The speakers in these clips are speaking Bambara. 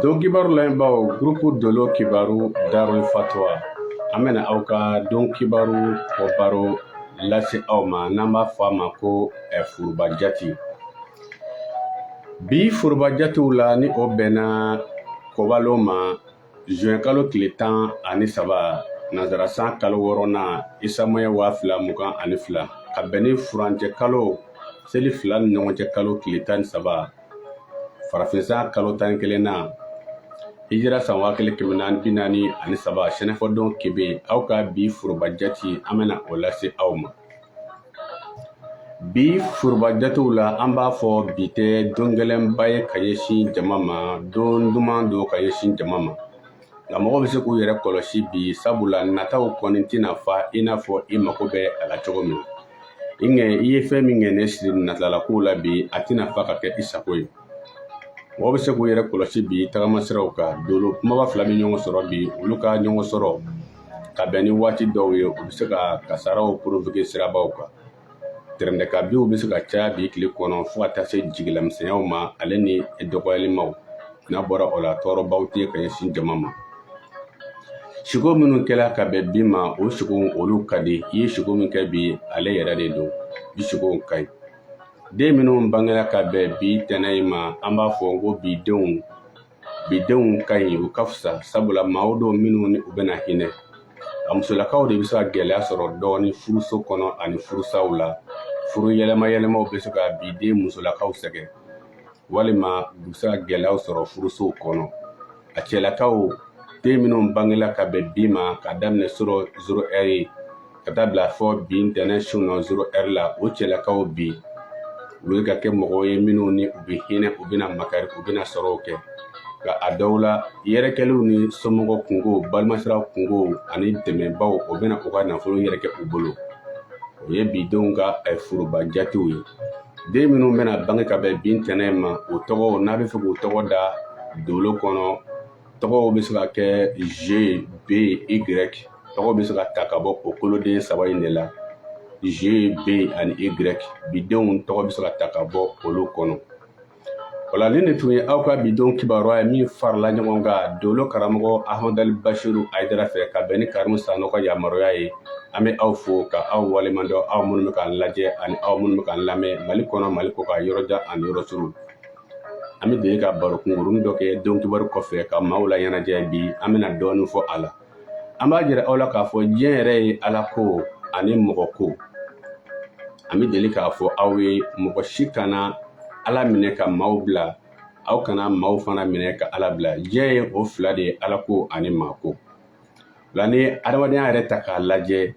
Don kibaru lamɛnbaaw gurupu dolo kibaru darul fatwa an bɛna aw ka don kibaru ko baro lase aw ma n'an b'a fɔ a ma ko eh, foroba jate bi foroba jatew la ni o bɛnna kɔbalon ma zuwɛn kalo tile tan ani saba nansara san kalo wɔɔrɔnan isa moyi waa fila mugan ani fila ka bɛn ni furancɛ kalo seli fila ni ɲɔgɔn cɛ kalo tile tan ni saba farafin san kalo tan ni kelennan hijira san waa kelen kɛmɛ naani bi naani ani saba sɛnɛfɔdon kebe aw ka bi foroba jate an bɛna o lase aw ma bi foroba jatew la an b'a fɔ bi tɛ don gɛlɛnba ye ka ɲɛsin jama ma don duman don ka ɲɛsin jama ma nka mɔgɔ bɛ se k'u yɛrɛ kɔlɔsi bi sabula nataw kɔni tɛna fa i n'a fɔ i mako bɛ a la cogo min i ŋɛ i ye fɛn min ŋaniya siri natala kow la bi a tɛna fa ka kɛ i sago ye mɔgɔ bɛ se k'u yɛrɛ kɔlɔsi bi tagama siraw kan dolo kunbaba fila bɛ ɲɔgɔn sɔrɔ bi olu ka ɲɔgɔn sɔrɔ ka bɛn ni waati dɔw ye u bɛ se ka kasaraw porovoke sirabaw kan tɛrɛndɛkabinw bɛ se ka caya bi tile kɔnɔ fo ka taa se jigilamisɛnyaw ma ale ni dɔgɔyalimaw n'a bɔra o la tɔɔrɔbaw tɛ ka ɲɛsin jama ma siko minnu kɛra ka bɛn bi ma o siko olu ka di i ye siko min kɛ bi ale yɛrɛ de don bi siko ka ɲi den minnu bangera ka bɛn bi ntɛnɛn in ma an b'a fɔ ko bi denw bidenw ka ɲi u ka fisa sabula maaw don minnu ni u bɛna hinɛ a musolakaw de bɛ se ka gɛlɛya sɔrɔ dɔɔni furuso kɔnɔ ani furusaw la furu yɛlɛma yɛlɛmaw bɛ se ka biden musolakaw sɛgɛn walima u bɛ se ka gɛlɛyaw sɔrɔ furusow kɔnɔ a cɛlakaw den minnu bangela ka bɛn bi ma ka daminɛ surɔ zoro ɛri ka taa bila fo bi ntɛnɛn su nɔ zoro ɛri la o cɛlakaw bɛ se ka kɛ mɔgɔw ye minnu ni u bɛ hinɛ u bɛna makari u bɛna sɔrɔw kɛ nka a dɔw la yɛrɛkɛliw ni somɔgɔ kungo balimasira kungo ani dɛmɛbaw o bɛna u ka nafolo yɛrɛkɛ u bolo o ye bi denw ka eh, foroba jatew ye den minnu bɛna bange ka bɛn bi ntɛnɛn ma u tɔgɔw n'a b'a fɛ k'u tɔgɔ da dolo kɔnɔ tɔgɔw bɛ se ka kɛ j b y tɔgɔw bɛ se ka ta ka bɔ o koloden saba in de la j b ani y bidenw tɔgɔ bɛ se ka ta ka bɔ olu kɔnɔ wala nin ne tun ye aw ka bidenw kibaruya ye min farala ɲɔgɔn kan dolo karamɔgɔ ahmadali basiru ayidara fɛ ka bɛn ni karimu sanɔ ka yamaruya ye an bɛ aw fo ka aw waleɲumandɔn aw minnu bɛ k'an lajɛ ani aw minnu bɛ k'an lamɛn mali kɔnɔ mali kɔkan yɔrɔ jan ani yɔrɔ surun an bɛ deli ka baro kunkurunin dɔ kɛ don kibaru kɔfɛ ka maaw la ɲɛnajɛ bi an bɛna dɔɔnin fɔ a la an b'a jira aw la k'a fɔ diɲɛ yɛrɛ ye ala ko ani mɔgɔ ko an bɛ deli k'a fɔ aw ye mɔgɔ si kana ala minɛ ka maaw bila aw kana maaw fana minɛ ka ala bila diɲɛ ye o fila de ye ala ko ani maa ko la n'i adamadenya yɛrɛ ta k'a lajɛ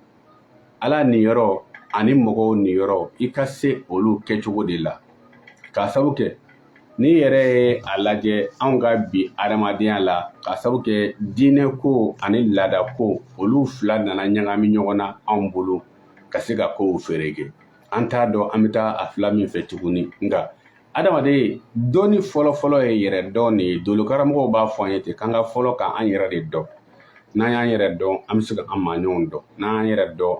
ala niyɔrɔ ani mɔgɔw niyɔrɔ i ka se olu kɛcogo de la k'a sabu kɛ n'i yɛrɛ ye a lajɛ anw ka bi adamadenya la k'a sabu kɛ diinɛ ko ani laada ko olu fila nana ɲagami ɲɔgɔn na anw bolo ka se ka kow fereke an t'a dɔn an bɛ taa a fila min fɛ tuguni nka adamaden dɔnni fɔlɔfɔlɔ ye yɛrɛ dɔn de ye dolokaramɔgɔw b'a fɔ an ye ten k'an ka fɔlɔ ka an yɛrɛ de dɔn n'an y'an yɛrɛ dɔn an bɛ se ka an maaɲɔgɔnw dɔn n'an y'an yɛrɛ dɔn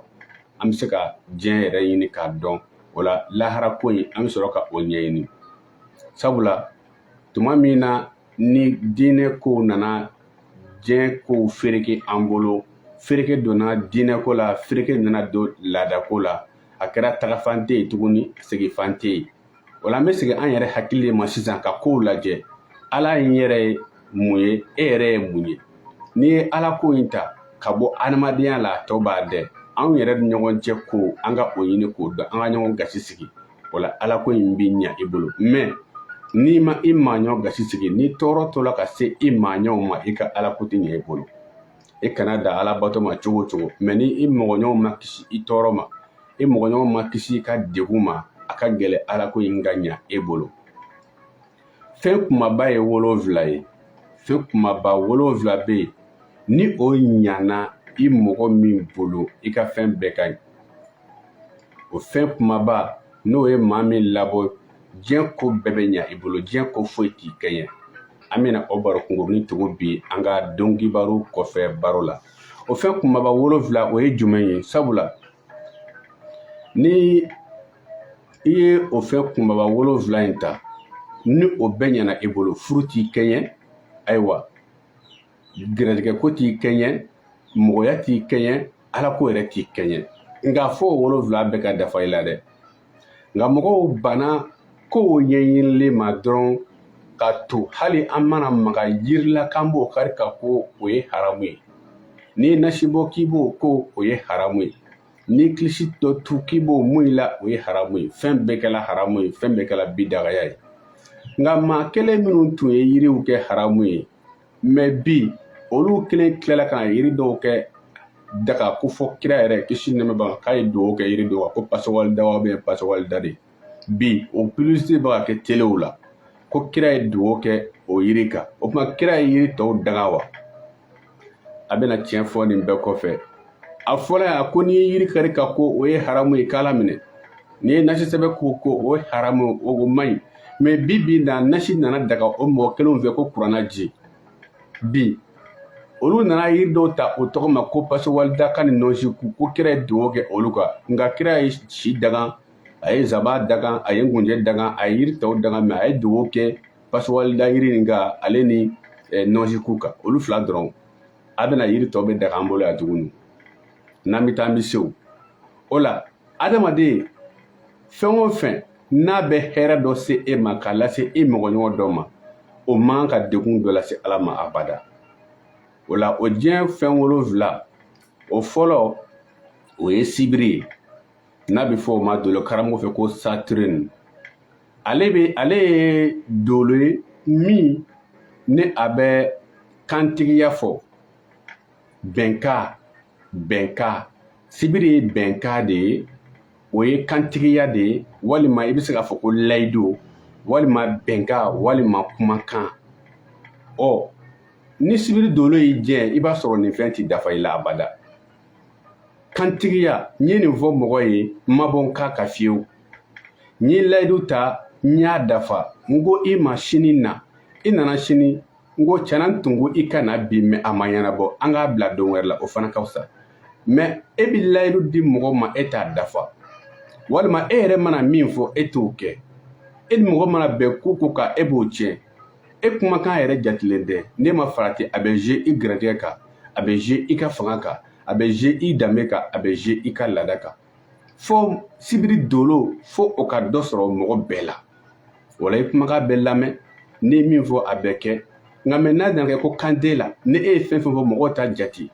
an bɛ se ka diɲɛ yɛrɛ ɲini k'a dɔn o la lahara ko in an bɛ sɔrɔ ka o ɲɛɲini sabula tuma min na ni diinɛ kow nana diɲɛ kow fereke an bolo fereke donna diinɛ ko la fereke nana don laadako la a kɛra tagafan tɛ yen tuguni segifan tɛ yen o la an bɛ segin an yɛrɛ hakili de ma sisan ka kow lajɛ ala in yɛrɛ ye mun ye e yɛrɛ ye mun ye n'i ye ala ko in ta ka bɔ adamadenya la a tɔ b'a dɛ anw yɛrɛ ni ɲɔgɔn cɛ ko an ka o ɲini k'o dɔn an ka ɲɔgɔn gasi sigi o la ala ko in bɛ ɲa i bolo mɛ n'i ma i maaɲɔ gasi sigi n'i tɔɔrɔ tola ka se i maaɲɔw ma i ka ala ko tɛ ɲɛ i bolo i kana da ala bato ma cogo o cogo mɛ ni i mɔgɔɲɔgɔnw ma kisi i tɔɔrɔ ma i mɔgɔɲɔgɔn ma kisi i ka degun ma a ka gɛlɛn ala ko in ka ɲa e bolo fɛn kumaba ye wolonfila ye fɛn kumaba wolonfila bɛ yen ni o ɲana i mɔgɔ min bolo i ka fɛn bɛɛ ka ɲi o fɛn kumaba n'o ye maa min labɔ diɲɛ ko bɛɛ bɛ ɲa i bolo diɲɛ ko foyi t'i kɛɲɛ an bɛna o baro kunkurunin tugu bi an ka don kibaru kɔfɛ baro la o fɛn kunbaba wolonfila o ye jumɛn ye sabula ni i ye o fɛn kunbaba wolonfila in ta ni o bɛɛ ɲɛna i bolo furu t'i kɛɲɛ ayiwa garijɛgɛ ko t'i kɛɲɛ mɔgɔya t'i kɛɲɛ ala ko yɛrɛ t'i kɛɲɛ nka fo o wolonfila bɛɛ ka dafa i la dɛ nka mɔgɔw banna kow ɲɛɲinili ma dɔrɔn ka to hali an mana maga yiri la k'an b'o kari ka ko o ye haramu ye n'i nasi bɔ k'i b'o ko o ye haramu ye n'i kilisi dɔ tu k'i b'o mun i la o ye haramu ye fɛn bɛɛ kɛla haramu ye fɛn bɛɛ kɛla bidagaya ye nka maa kelen minnu tun ye yiriw kɛ haramu ye mɛ bi olu kelen tilala ka na yiri dɔw kɛ daga ko fɔ kira yɛrɛ kisi nɛɛma b'a kan k'a ye dugawu kɛ yiri dɔw kan ko pasawalida wa bɛ pasawalida de bi o publicité bɛ ka kɛ telew la ko kira ye dugawu kɛ o yiri kan o tuma kira ye yiri tɔw danga wa a bɛna tiɲɛ fɔ nin bɛɛ kɔfɛ a fɔra yan ko n'i ye yiri kari ka ko o ye haramu ye k'ala minɛ n'i ye nasi sɛbɛn k'o ko o ye haramu o man ɲi mɛ bi bi na nasi nana daga o mɔgɔ kelenw fɛ ko kuranna ji bi olu nana yiri dɔw ta o tɔgɔ ma ko pasiwalida ka ni nɔnsiku ko kira ye dugawu kɛ olu kan nka kira ye si danga a ye zaban danga a ye ngunjɛ danga a ye yiri tɔw danga mɛ a ye dugawu kɛ pasiwalida yiri nin kan ale ni eh, nɔnsiku kan olu fila dɔrɔn a bɛna yiri tɔw bɛɛ daga an bolo yan tuguni n'an bɛ taa an bɛ se o la adamaden fɛn o fɛn n'a bɛ hɛrɛ dɔ se e ma k'a lase e mɔgɔɲɔgɔn dɔ ma o man kan ka degun dɔ lase ala ma abada o la o diɲɛ fɛn wolonfila o fɔlɔ o ye sibiri ye n'a bɛ fɔ o ma dolo karamɔgɔ fɛ ko saturne ale bɛ ale ye dolo ye min ni a bɛ kantigiya fɔ bɛnkan bɛnkan sibiri ye bɛnkan de ye o ye kantigiya de ye walima i bɛ se k'a fɔ ko layidu walima bɛnkan walima kumakan ɔ ni sibiri dolo y'i jɛ i b'a sɔrɔ nin fɛn ti dafa i la abada kantigiya n ye nin fɔ mɔgɔ ye n ma bɔ n kan kan fiyewu n ye layidu ta n y'a dafa n ko i ma sini na i nana sini n ko tiɲɛ na n tun ko i ka na bi mɛ a ma ɲɛnabɔ an k'a bila don wɛrɛ la o fana ka fisa mɛ e bɛ layidu di mɔgɔ ma e t'a dafa walima e yɛrɛ mana min fɔ e t'o kɛ e ni mɔgɔ mana bɛn ko o ko kan e b'o tiɲɛ e kumakan yɛrɛ jatilen tɛ n'e ma farati a bɛ jouer i garijɛgɛ kan a bɛ jouer i ka fanga kan a bɛ jouer i danbe kan a bɛ jouer i ka laada kan fo sibiri dolo fo o ka dɔ sɔrɔ mɔgɔ bɛɛ la wala i kumakan bɛ lamɛn n'i ye min fɔ a bɛ kɛ nka mɛ n'a nana kɛ ko kan t'e la ni e ye fɛn fɛn fɔ mɔgɔw t'a jate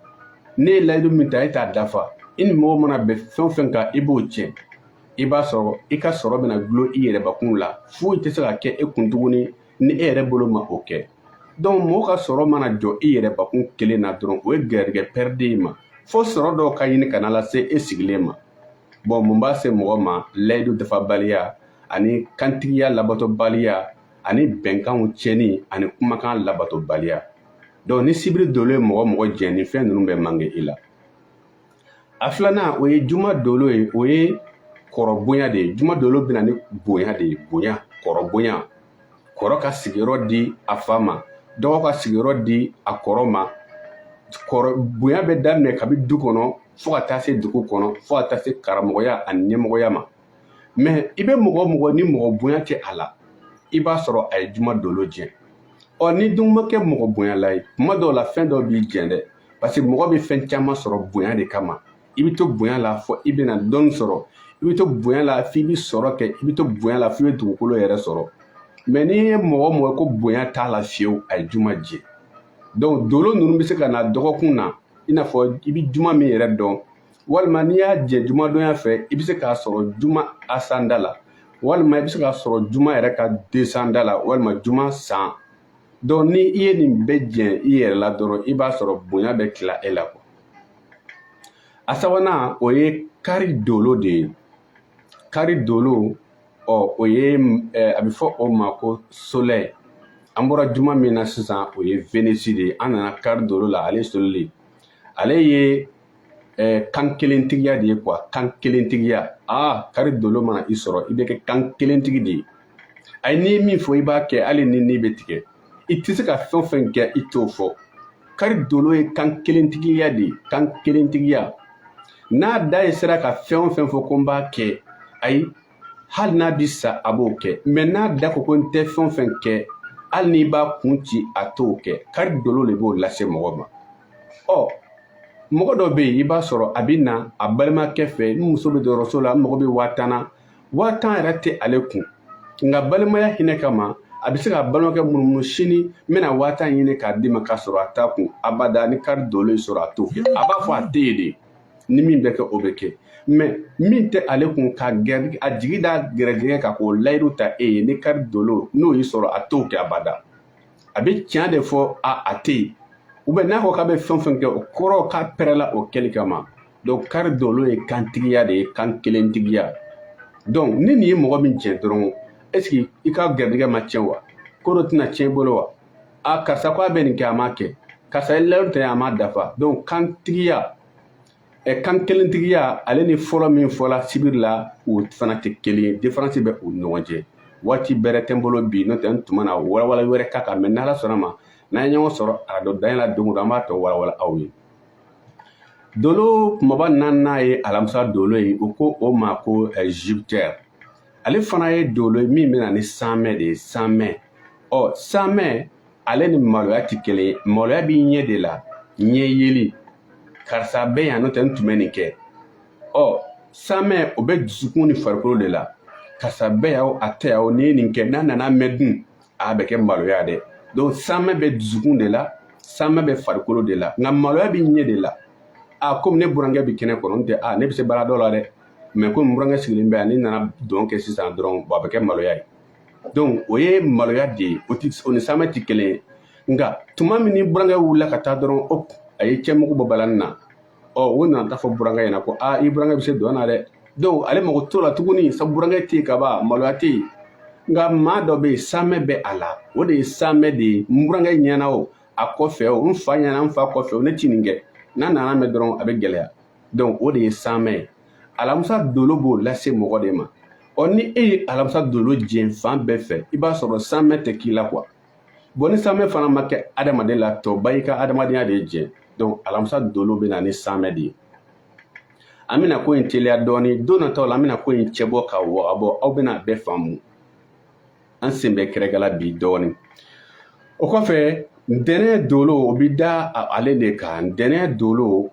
n'e ye layidu min ta e t'a dafa i ni mɔgɔ mana bɛn fɛn o fɛn kan i b'o tiɲɛ i b'a sɔrɔ i ka sɔrɔ bɛna dulon i yɛrɛbakun la foyi tɛ se ka kɛ e kun tuguni ni e yɛrɛ bolo ma o kɛ donc mɔgɔ ka sɔrɔ mana jɔ i yɛrɛbakun kelen na dɔrɔn o ye garijɛgɛ pɛridi i ma fo sɔrɔ dɔw ka ɲini ka na lase e sigilen ma bon mun b'a se mɔgɔ ma layidu dafabaliya ani kantigiya labatobaliya ani bɛnkanw tiɲɛni ani kumakan labatobaliya donc ni sibiri dolo ye mɔgɔ o mɔgɔ jɛn nin fɛn ninnu bɛ manke i la a filanan o ye juma dolo ye o ye kɔrɔ bonya de ye juma dolo bɛ na ni bonya de ye bonya kɔrɔ bonya kɔrɔ ka sigiyɔrɔ di a fa ma dɔgɔ ka sigiyɔrɔ di a kɔrɔ ma kɔrɔ bonya bɛ daminɛ kabi du kɔnɔ fo ka taa se dugu kɔnɔ fo ka taa se karamɔgɔya ani ɲɛmɔgɔya ma mɛ i bɛ mɔgɔ o mɔgɔ ni mɔgɔ bonya tɛ a la i b'a sɔrɔ a ye juma dolo jɛ ɔ n'i dun ma kɛ mɔgɔ bonyala ye tuma dɔw la fɛn dɔw b'i jɛ dɛ parce que mɔgɔ bɛ fɛn caman sɔrɔ bonya de kama i bɛ to bonya la fo i bɛ na dɔnni sɔrɔ i bɛ to bonya la f'i bɛ sɔrɔ kɛ i bɛ to bonya la f'i bɛ dugukolo yɛrɛ sɔrɔ mɛ n'i ye mɔgɔ o mɔgɔ ko bonya t'a la fiyewu a ye juma jɛ donc dolo ninnu bɛ se ka na dɔgɔkun na i n'a fɔ i bɛ juma min yɛrɛ dɔn walima n'i y'a jɛ jumadonya fɛ i bɛ se k'a sɔrɔ juma ascendant la walima i bɛ se k'a sɔrɔ juma yɛrɛ ka descendant la walima juma san donc ni i ye nin bɛɛ jɛ i yɛrɛ la dɔrɔn i b'a sɔrɔ bonya bɛ tila e la quoi a sabanan o ye kari dolo de ye kari dolo ɔ o ye a bɛ fɔ o ma ko soleil an bɔra juma min na sisan o ye vénus de ye an nana kari dolo la ale soleil ale ye ɛɛ kan kelentigiya de ye quoi kan kelentigiya aa kari dolo mana i sɔrɔ i bɛ kɛ kan kelentigi de ye ayi n'i ye min fɔ i b'a kɛ hali ni ni bɛ tigɛ i tɛ se ka fɛn o fɛn kɛ i t'o fɔ kari dolo ye kan kelentigiya de ye kan kelentigiya n'a da ye sera ka fɛn o fɛn fɔ ko n b'a kɛ ayi hali n'a bi sa a b'o kɛ mɛ n'a da ko ko n tɛ fɛn o fɛn kɛ hali n'i b'a kun ci a t'o kɛ kari dolo de b'o lase mɔgɔ ma ɔ mɔgɔ dɔ bɛ yen i b'a sɔrɔ a bɛ na a balimakɛ fɛ n muso bɛ dɔgɔtɔrɔso la n mago bɛ waa tan na waa tan yɛrɛ tɛ ale kun nka balimaya hinɛ kama a bɛ se k'a balimakɛ munumunu sini n bɛna waa tan ɲini k'a d'i ma k'a sɔrɔ a t'a kun abada ni kari dolo y'i sɔrɔ a t'o kɛ a b'a fɔ a tɛ yen de ni min bɛ kɛ o bɛ kɛ mɛ min tɛ ale kun ka gɛrɛ a jigi da garijɛgɛ kan k'o layidu ta e ye ni kari dolo n'o y'i sɔrɔ a t'o kɛ abada a bɛ tiɲɛ de fɔ a a tɛ yen ou bien n'a ko k'a bɛ fɛn o fɛn kɛ o kɔrɔ k'a pɛrɛla o kɛli kama donc kari dolo ye kantigiya de ye kan kelentigiya donc ni nin ye mɔgɔ min jɛ dɔrɔn est ce que i ka garijɛgɛ ma tiɲɛ wa ko dɔ tɛna tiɲɛ i bolo wa a karisa ko a bɛ nin kɛ a m'a kɛ karisa ye layidu ta a m'a dafa donc kantigiya ɛ kan kelentigiya ale ni fɔlɔ min fɔla sibiri la u fana tɛ kelen ye différence bɛ u ni ɲɔgɔn cɛ waati bɛrɛ tɛ n bolo bi n'o tɛ n tun bɛna walawala wɛrɛ k'a kan mɛ n'ala sɔnn'a ma n'an ye ɲɔgɔn sɔrɔ arajo danaya la don o don an b'a tɔ walawala aw ye dolo kumaba naaninan ye alamisa dolo ye u ko o ma ko jupiter ale fana ye dolo ye min bɛ na ni samɛ de ye samɛ ɔ samɛ ale ni maloya tɛ kelen ye maloya b'i ɲɛ de la ɲɛ yeli karisa bɛ yan n'o tɛ n tun bɛ nin kɛ ɔ samɛ o bɛ dusukun ni farikolo de la karisa bɛ yan o a tɛ yan o n'i ye nin kɛ n'a nana mɛn dun a bɛ kɛ maloya dɛ donc samɛ bɛ dusukun de la samɛ bɛ farikolo de la nka maloya b'i ɲɛ de la a komi ne burankɛ bɛ kɛnɛ kɔnɔ n tɛ a ne bɛ se baara dɔ la dɛ mais komi burankɛ sigilen bɛ yan ne nana dɔn kɛ sisan dɔrɔn a bɛ kɛ maloya ye donc o ye maloya de ye o ti o ni samɛ ti kelen ye nka tuma min ni burankɛ wulila ka taa dɔrɔn o a ye cɛmugu bɔ balani na ɔ o nana taa fɔ burankɛ ɲɛna ko aa i burankɛ bɛ se dɔn na dɛ donc ale mago t'o la tuguni sa burankɛ tɛ yen kaban maloya tɛ yen nka maa dɔ bɛ yen samɛ bɛ a la o de ye samɛ de ye n burankɛ ɲɛna o a kɔfɛ o n fa ɲɛna n fa kɔfɛ o ne ti nin kɛ n'a nana mɛn dɔrɔn a bɛ gɛlɛya donc o de ye samɛ ye alamisa dolo b'o lase mɔgɔ de ma ɔ ni e ye alamisa dolo jɛn fan bɛɛ fɛ i b'a sɔrɔ samɛ tɛ k'i la quoi bon ni samɛ fana ma kɛ adamaden la tɔba i ka adamadenya de ye jɛn donc alamisa dolo bɛ na ni samɛ de ye an bɛna ko in teliya dɔɔni don nataw la an bɛna ko in cɛbɔ ka wagabɔ aw bɛna a bɛɛ faamu an sen bɛ kɛrɛkɛla bi dɔɔni o kɔfɛ ntɛnɛn dolo o bɛ da ale de kan ntɛnɛn dolo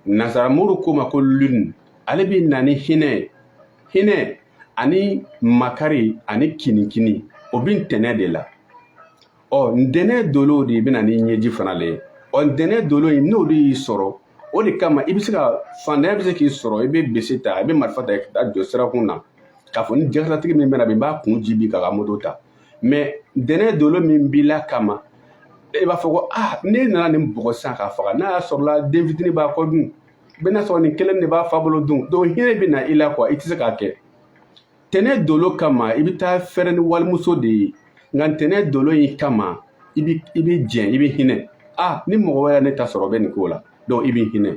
nasaramuru ko ma ko lune ale bi na ni hinɛ hinɛ ani makari ani kinikini o bi ntɛnɛ de la ɔ ntɛnɛ dolo de bɛ na ni ɲɛji fana le ye ɔ ntɛnɛ dolo in n'o de y'i sɔrɔ o de kama i bɛ se ka fantanya bɛ se k'i sɔrɔ i bɛ bese ta i bɛ marifa ta ka taa jɔ sirakun na k'a fɔ ni jakartatigi min bɛ na bi n b'a kun ci bi k'a ka moto ta mais tɛnɛ dolo min b'i la kama e b'a fɔ ko ah ne nana nin bugɔ san k'a faga n'a y'a sɔrɔla den fitini b'a kɔ dun bɛn'a sɔrɔ nin kelen de b'a fa bolo dun donc hinɛ bɛ na i la quoi i tɛ se k'a kɛ tɛnɛ dolo kama i bɛ taa fɛrɛ ni walimuso de ye nka ntɛnɛ dolo in kama i bɛ i bɛ jɛn i bɛ hinɛ ah ni mɔgɔ wɛrɛ ne ta sɔrɔ bɛ nin ko la donc i bɛ hinɛ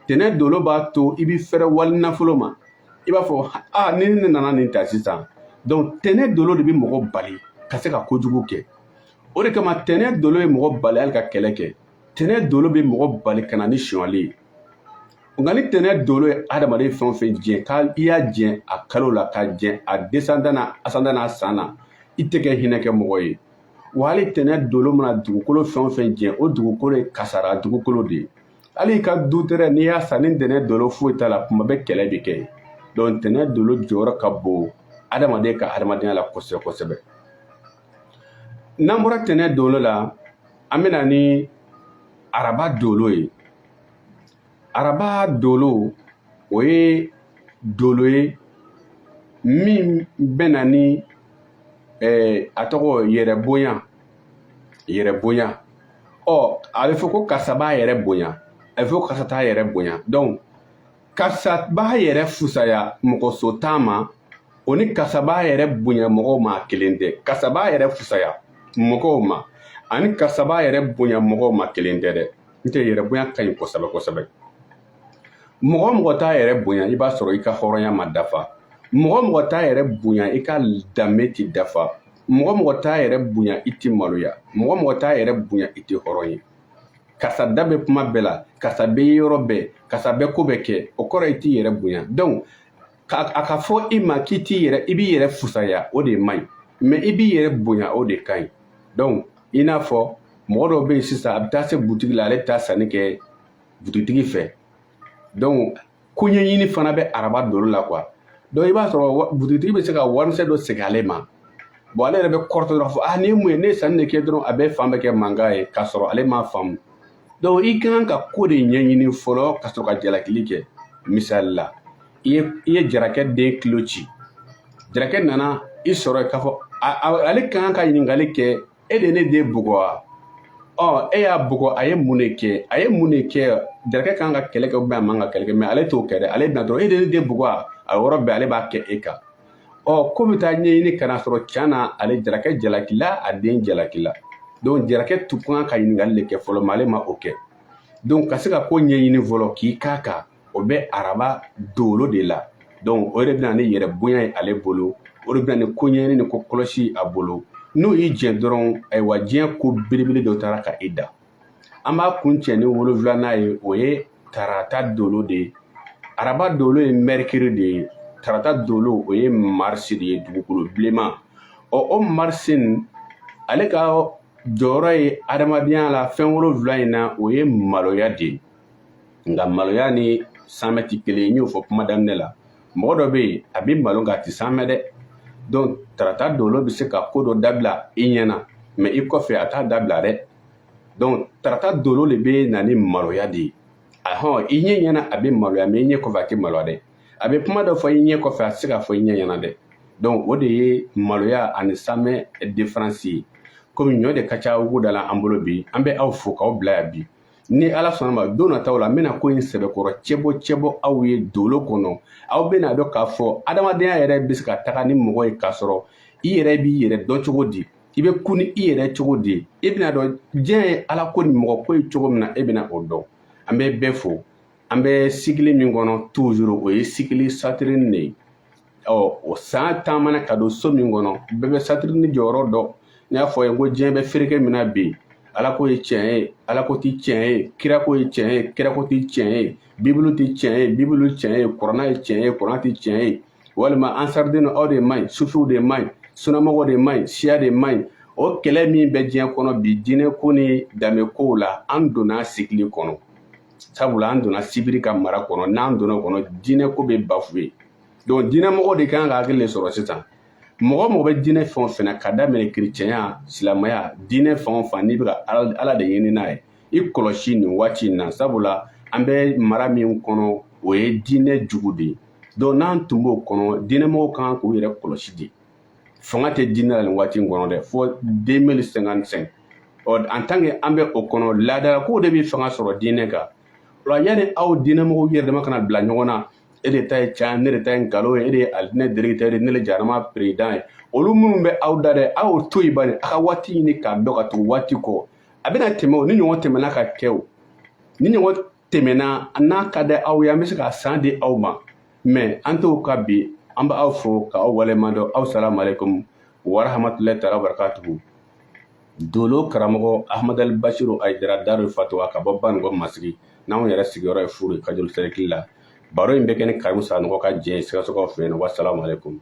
tɛnɛ dolo b'a to i bɛ fɛrɛ wali nafolo ma i b'a fɔ a ni ne nana nin ta sisan donc tɛnɛ dolo de bɛ mɔgɔ bali ka se ka kojugu kɛ o de kama tɛnɛ dolo ye mɔgɔ bali hali ka kɛlɛ kɛ tɛnɛ dolo bɛ mɔgɔ bali ka na ni sonyali ye nka ni tɛnɛ dolo ye adamaden fɛn o fɛn jɛn ka i y'a jɛn a kalo la k'a jɛn a descendant na ascendant n'a san na i tɛ kɛ hinɛ kɛ mɔgɔ ye wa hali tɛnɛ dolo mana dugukolo fɛn o fɛn jɛn o dugukolo ye kasara dugukolo de ye hali i ka du tɛrɛ n'i y'a san ni ntɛnɛn dolo foyi t'a la kuma bɛ kɛlɛ de kɛ yen donc ntɛnɛn dolo jɔyɔrɔ ka bon adamaden ka adamadenya la kosɛbɛ kosɛbɛ n'an bɔra ntɛnɛn dolo la an bɛna ni araba dolo ye araba dolo o ye dolo ye min bɛna ni eh, a tɔgɔ yɛrɛ bonya yɛrɛ bonya ɔ a bɛ fɔ ko karisa b'a yɛrɛ bonya a bɛ fɔ ko karisa t'a yɛrɛ bonya donc karisa b'a yɛrɛ fusaya mɔgɔ so tan ma o ni karisa b'a yɛrɛ bonya mɔgɔw ma kelen tɛ karisa b'a yɛrɛ fusaya mɔgɔw ma ani karisa b'a yɛrɛ bonya mɔgɔw ma kelen tɛ dɛ n tɛ yɛrɛ bonya ka ɲi kosɛbɛ kosɛbɛ mɔgɔ o mɔgɔ t'a yɛrɛ bonya i b'a sɔrɔ i ka hɔrɔnya ma dafa mɔgɔ o mɔgɔ t'a yɛrɛ bonya i ka danbe ti dafa mɔgɔ mɔgɔ t'a yɛrɛ bonya i ti maloya mɔgɔ mɔgɔ t'a yɛrɛ bonya i tɛ hɔrɔn ye karisa da bɛ kuma bɛɛ la karisa bɛ ye yɔrɔ bɛɛ karisa bɛ ko bɛɛ kɛ o kɔrɔ i t'i yɛrɛ bonya donc a ka fɔ i ma k'i i b'i yɛrɛ fusaya o de man ɲi mɛ i b'i yɛrɛ bonya o de ka ɲi donc i n'a fɔ mɔgɔ dɔw bɛ yen sisan a bɛ taa se butigi la ale bɛ taa sanni kɛ butigitigi fɛ donc ko ɲɛɲini fana bɛ araba dolo la quoi donc i b'a sɔrɔ butigitigi bɛ se ka warimisɛn dɔ segin ale ma bɔn ale yɛrɛ bɛ kɔrɔtɔ dɔrɔn fɔ ah nin ye mun ye ne ye sanni de kɛ dɔrɔn a bɛ fan bɛɛ kɛ mankan ye k'a sɔrɔ ale m'a faamu donc i ka kan ka ko de ɲɛɲini fɔlɔ ka sɔrɔ ka jalakili kɛ misali la i ye jarakɛ den kolo ci jarakɛ nana i sɔrɔ k'a fɔ ale ka kan ka ɲininkali kɛ e de ne den bugɔ wa ɔ e y'a bugɔ a ye mun de kɛ a ye mun de kɛ jarakɛ kan ka kɛlɛ kɛ ou bien a man ka kɛlɛ kɛ mɛ ale t'o kɛ dɛ ale bɛ na dɔrɔn e de ne den bugɔ wa a yɔrɔ bɛɛ ale b'a kɛ e kan ɔ ko bɛ taa ɲɛɲini k'a sɔrɔ can na ale jarakɛ jalakila a den jalakila donc jarakɛ tun kan ka ɲininkali de kɛ fɔlɔ mɛ ale ma o kɛ donc ka se ka ko ɲɛɲini fɔlɔ k'i k'a kan o bɛ araba dolo de la donc o de bɛna ni yɛrɛ bonya ye ale bolo o de bɛna ni koɲɛɲini ni ko kɔlɔsi ye a bolo n'o y'i jɛ dɔrɔn ayiwa diɲɛ ko belebele dɔ taara ka i da an b'a kuncɛ ni wolonwulanan ye o ye tarata dolo de ye araba dolo ye mɛrikiri de ye tarata dolo o ye marisi de ye dugukolo bilenman ɔ o marisi nin ale ka jɔyɔrɔ ye adamadenya la fɛn wolonwula in na o ye maloya de ye nka maloya ni saamɛ ti kelen n y'o fɔ kuma daminɛ la mɔgɔ dɔ bɛ yen a bɛ malo nka a tɛ saamɛ dɛ donc tarata dolo bɛ se ka ko dɔ dabila i ɲɛna mɛ i kɔfɛ a t'a dabila dɛ donc tarata dolo de bɛ na ni maloya de ye ahɔn i ɲɛ ɲɛna a bɛ maloya mɛ i ɲɛ kɔfɛ a tɛ maloya dɛ a bɛ kuma dɔ fɔ i ɲɛ kɔfɛ a tɛ se k'a fɔ i ɲɛ ɲɛna dɛ donc o de ye maloya ani saamɛ diferansi ye komi ɲɔ de ka ca wugu da la an bolo bi an bɛ aw fo k'aw bila yan bi ni ala sɔnna ma don nataw la n bɛna ko in sɛbɛkɔrɔ cɛbɔ cɛbɔ aw ye dolo kɔnɔ aw bɛna dɔn k'a fɔ adamadenya yɛrɛ bɛ se ka taga ni mɔgɔ ye k'a sɔrɔ i yɛrɛ b'i yɛrɛ dɔn cogo di i bɛ kun ni i yɛrɛ cogo di i bɛna dɔn diɲɛ ye ala ko ni mɔgɔ ko ye cogo min na e bɛna o dɔn an bɛ bɛɛ fo an bɛ sigili min kɔnɔ toujours o ye sigili Saturne de ye ɔ o san taamana ka don so min kɔnɔ bɛɛ bɛ Saturne jɔyɔrɔ dɔn n y'a fɔ a ye ko diɲɛ bɛ fereke min na bi ala ko ye tiɲɛ ye ala ko ti tiɲɛ ye kira ko ye tiɲɛ ye kira ko ti tiɲɛ ye bibulu ti tiɲɛ ye bibulu tiɲɛ ye kuranɛ ye tiɲɛ ye kuranɛ ti tiɲɛ ye walima ansariden aw de man ɲi sufiw de man ɲi sunamɔgɔ de man ɲi siya de man ɲi o kɛlɛ min bɛ diɲɛ kɔnɔ bi diinɛ ko ni danbe kow la an donna sigili kɔnɔ sabula an donna sibiri ka mara kɔnɔ n'an donna o kɔnɔ diinɛ ko bɛ bafoué donc diinɛmɔgɔw de ka kan ka hakili de sɔrɔ sisan mɔgɔ o mɔgɔ bɛ diinɛ fɛn o fɛn na ka daminɛ kerecɛnya silamɛya diinɛ fɛn o fɛn n'i bɛ ka ala de ɲini n'a ye i kɔlɔsi nin waati in na sabula an bɛ mara min kɔnɔ o ye diinɛ jugu de ye donc n'an tun b'o kɔnɔ diinɛmɔgɔw ka kan k'u yɛrɛ kɔlɔsi de fanga tɛ diinɛ la nin waati in kɔnɔ dɛ fo 2055 ɔ en tant que an bɛ o kɔnɔ laadalakow de bɛ fanga sɔrɔ diinɛ kan o la yanni aw diinɛmɔgɔw yɛrɛ dama kana bila ɲɔgɔn na e de ta ye can ne de ta ye nkalon ye e de ye alijinɛ directeur ye ne de jahanama président ye olu minnu bɛ aw da dɛ aw y'o to yen bani a ka waati ɲini k'a dɔn ka tugu waati kɔ a bɛna tɛmɛ o ni ɲɔgɔn tɛmɛna ka kɛ o ni ɲɔgɔn tɛmɛna n'a ka di aw ye an bɛ se k'a san di aw ma mais an t'o kɛ bi an bɛ aw fo ka aw waleɲuman dɔn aw salamu aleykum wa rahmatulahi taala wa barakatuhu Dolo karamɔgɔ hamadudu basi a jira da de fa to a ka bɔ ban kɔ mas n'an yɛrɛ sigiyɔrɔ ye furu ka jolifi la baro in bɛ kɛ ni kami san n ka jɛ sisɔrɔ fɛ yen wa sa kun